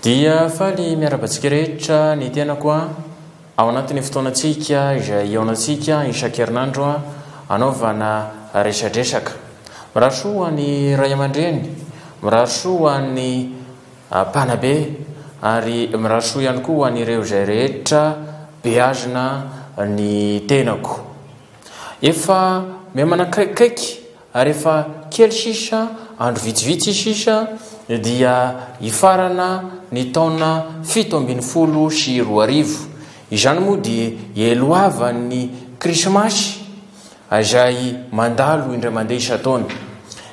Dia faly miaraba antsika rehetra ny tenako a ao anatin'ny fotoanantsika izay eonantsika isan-kerinandro a anaovana resadresaka. Mirary soa ho an'ny ray aman-dreny, mirary soa ho an'ny Mpanabe, ary mirary soa ihany koa ho an'ireo izay rehetra beazina ny tenako. Efa miha manakaikikaiky ary efa kely sisa, andro vitsivitsy sisa dia hifarana ny taona fito ambin'ny folo sy roa arivo. Izany moa dia hialohavan'ny Krismasy. izay mandalo indray mandeha isan-taona.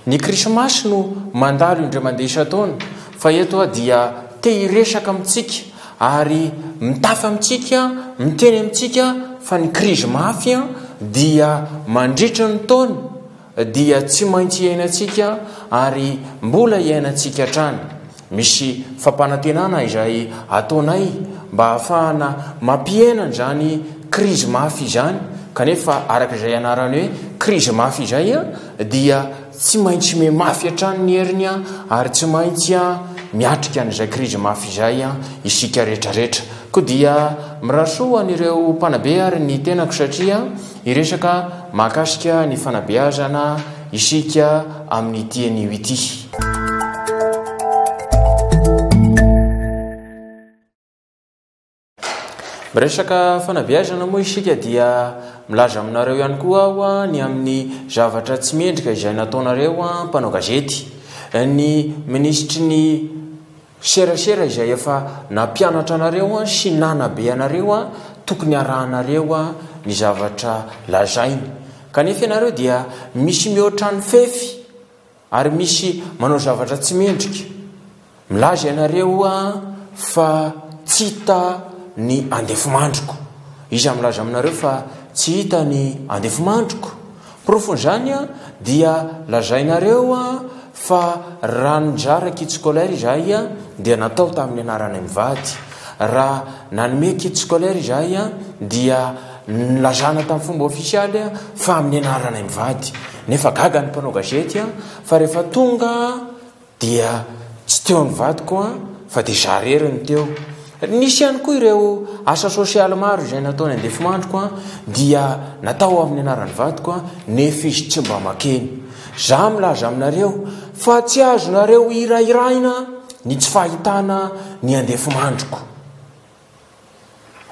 Ny krismasy no mandalo indray mandeha isan-taona fa eto aho dia te hiresaka amintsika ary mitafy amintsika, miteny amintsika fa ny krizy mafy dia mandritra ny taona dia tsy maintsy iainantsika ary mbola iainantsika hatrany. Misy fampanantenana izay ataonay mba hahafahana mampihena an'izany krizy mafy izany, kanefa araka izay anarany hoe krizy mafy izay dia tsy maintsy mimafy hatrany ny heriny ary tsy maintsy miatrika an'izay krizy mafy izay isika retraretra. Koa dia mirary soa ho an'ireo mpanabe ary ny tenako satria hiresaka mahakasika ny fanabeazana Isika amin'ity anio ity-miresaka fanabeazana moa isika dia milaza aminareo ihany koa aho ny amin'ny zavatra tsy mendrika izay nataonareo mpanao gazety ny minisitry ny Serasera izay efa nampianatra anareo sy nanabe anareo tokony arahanareo ny zavatra lazainy kanefa ianareo dia misy mihoatra ny fefy ary misy manao zavatra tsy mendrika milaza ianareo fa tsy hita ny andefimandriko iza milaza aminareo fa tsy hita ny andefimandriko Porofon'izany dia lazainareo fa raha nizara kit scolaire izahay dia natao tamin'ny anaranay mivady. Raha nanome kit scolaire izahay dia nilazana tamin'ny fomba ofisialy fa amin'ny anaranay mivady. Nefa gaga ny mpanao gazety fa rehefa tonga Dia tsy teo ny vadiko an, fa dia izaho irery no teo. Nisy ihany koa ireo asa sosialy maro izay natao ny andefimandriko an, dia natao amin'ny anaran'ny vadiko an, nefa izy tsy mba makeny. Izaho milaza aminareo fa tsy azonareo hirahiraina ny tsy fahitana ny andefimandriko.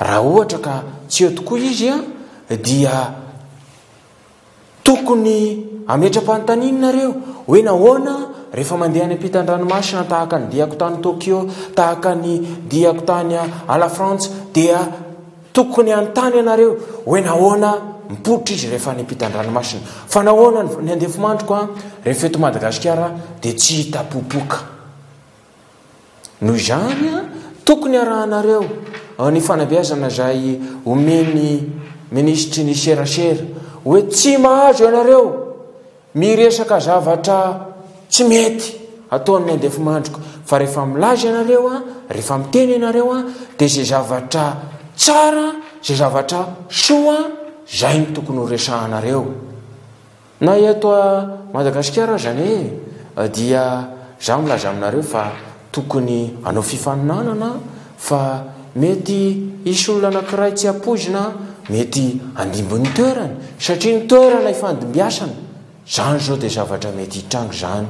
Raha ohatra ka tsy eo tokoa izy an, dia. Tokony hametra-panontaniana nareo hoe nahoana rehefa mandeha any ampitan-dranomasina tahaka ny diako tany Tokyo, tahaka ny diako tany à la France dia tokony hanontany anareo hoe nahoana mipoitra izy rehefa any ampitan-dranomasina. Fa nahoana ny andefimandriko rehefa eto Madagasikara dia tsy hita popoka. Noho izany, tokony harahanareo ny fanabeazana izay omen'ny minisitry ny serasera hoe tsy mahazo ianareo miresaka zavatra tsy mety ataon'ny andefimandriko fa rehefa milaza ianareo, rehefa miteny ianareo dia izay zavatra tsara, izay zavatra soa izay no tokony horesahanareo. Na eto a Madagasikara aza anie dia za milaza aminareo fa tokony anao fifaninanana fa mety hisy olona anakiray tsy ampoizina mety handimby ny toerany satria ny toerana ifandimbiasana zany zao dia zavatra mety hitranga izany.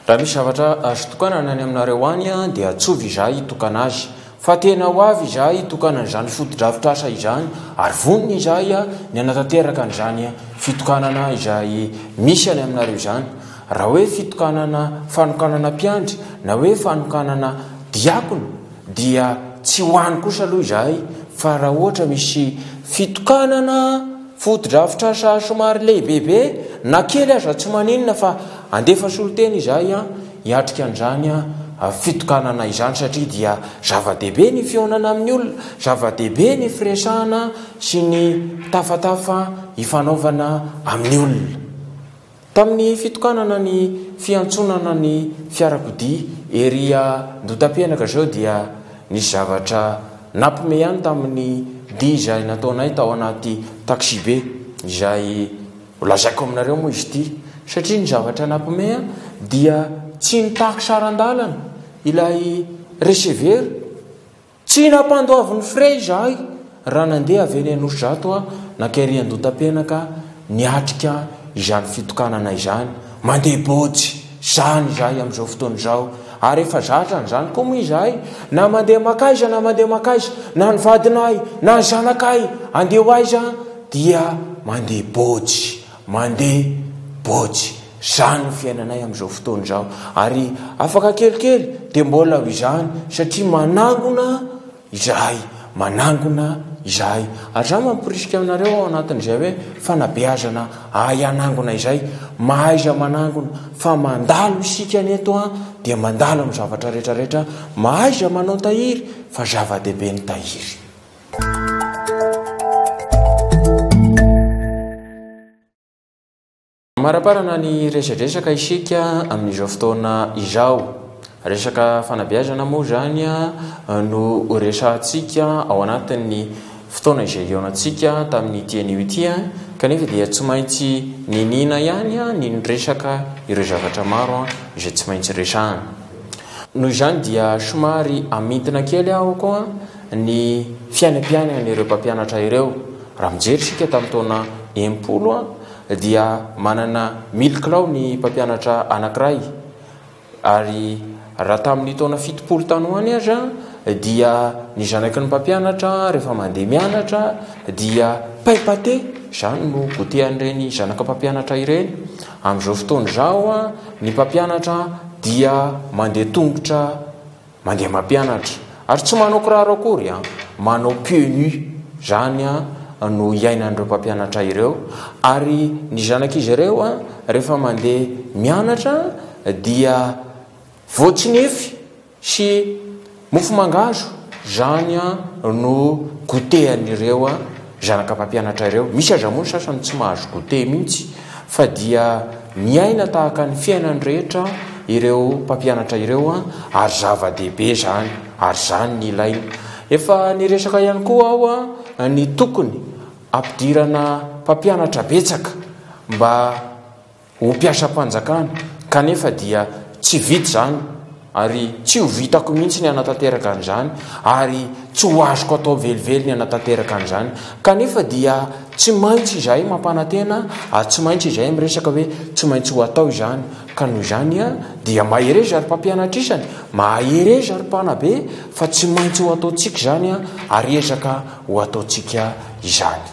Raha misy zavatra azo itokanana any aminareo any dia antsovy izahay hitokana azy. Fa tena ho avy izahay hitokana an'izany fotodrafitrasa izany ary vonona izahay ny hanatanteraka an'izany fitokanana izay misy any aminareo izany. Raha hoe fitokanana fanokanana mpiandry na hoe fanokanana diakona, Dia tsy ho any kosa aloha izahay fa raha ohatra misy fitokanana fotodrafitrasa somary lehibebe na kely aza tsy maninona fa andefa solontena izahay hiatrika an'izany fitokanana izany satria dia zava-dehibe ny fihaonana amin'ny olona, zava-dehibe ny firesahana sy ny tafatafa ifanaovana amin'ny olona. Tamin'ny fitokanana ny fiantsonana ny fiarakodia ery Andotampianaka izao dia nisy zavatra nampme ihany tamin'ny dia izay nataonay tao anaty taxibe izay holazaiko aminareo moa izy ity satria ny zavatra nampme dia tsy nitaky saran-dalana ilay receveur Tsy nampandoavin'ny frais izahay raha nandeha avy eny Anosizato nankairy Andotapenaka niatrika izany fitokanana izany. Mandeha bôjy izany izahay amin'izao fotoana izao ary efa zatra an'izany koa moa izahay na mandeha mankaiza na mandeha mankaiza na ny vadinay na ny zanakay andeha ho aiza dia mandeha bôjy Mandeha bôjy zany ny fiainanay amin'izao fotoana izao ary afaka kelikely dia mbola ho izany satria manangona izahay, manangona izahay. Ary izaho mamporisika anareo ao anatin'izay hoe fanabeazana hahay hanangona izay, mahaiza manangona fa mandalo isika ny eto an dia mandalo amin'ny zavatra rehetra rehetra, mahaiza manao tahiry fa zava-dehibe ny tahiry. Amaraparana ny resadresaka isika amin'izao fotoana izao. Resaka fanabeazana moa izany no resahantsika ao anatin'ny fotoana izay hihaonantsika tamin'ny ity anio ity. Kanefa dia tsy maintsy niniana ihany ny niresaka ireo zavatra maro izay tsy maintsy resahana. Noho izany dia somary hamintina kely aho koa ny fiainam-piainana ireo mpampianatra ireo. Raha mijery isika tamin'ny taona enimpolo dia manana mille kilao ny mpampianatra anankiray ary raha tamin'ny taona fitopolo tany ho any aza dia ny zanaky ny mpampianatra rehefa mandeha mianatra dia pain pate izany no gotehan'ireny zanaka mpampianatra ireny. Amin'izao fotoana izao ny mpampianatra dia mandeha tongotra. Mandeha mampianatra. Ary tsy manao kiraro akory an! Manao pieux nus. Izany an no iainan'ireo mpampianatra ireo. Ary ny zanak'izy ireo an, rehefa mandeha mianatra dia voatsinefy sy mofo mangahazo. Izany an no goûter an'ireo an. Zanaka mpampianatra ireo. Misy aza moa ny sasany tsy mahazo goûter mihitsy fa dia miaina tahaka ny fiainan'ny rehetra ireo mpampianatra ireo ary zava-dehibe izany ary izany no ilaina. Efa niresaka ihany koa aho ny tokony hampidirana mpampianatra betsaka mba ho mpiasam-panjakana kanefa dia tsy vita izany ary tsy ho vitako mihitsy ny hanatanteraka an'izany ary tsy ho azoko atao velively ny hanatanteraka an'izany kanefa dia tsy maintsy izahay mampanantena ary tsy maintsy izahay miresaka hoe tsy maintsy ho atao izany ka noho izany a dia mahereza ary mpampianatra isany mahereza ary mpanabe fa tsy maintsy ho ataontsika izany a ary ezaka ho ataontsika izany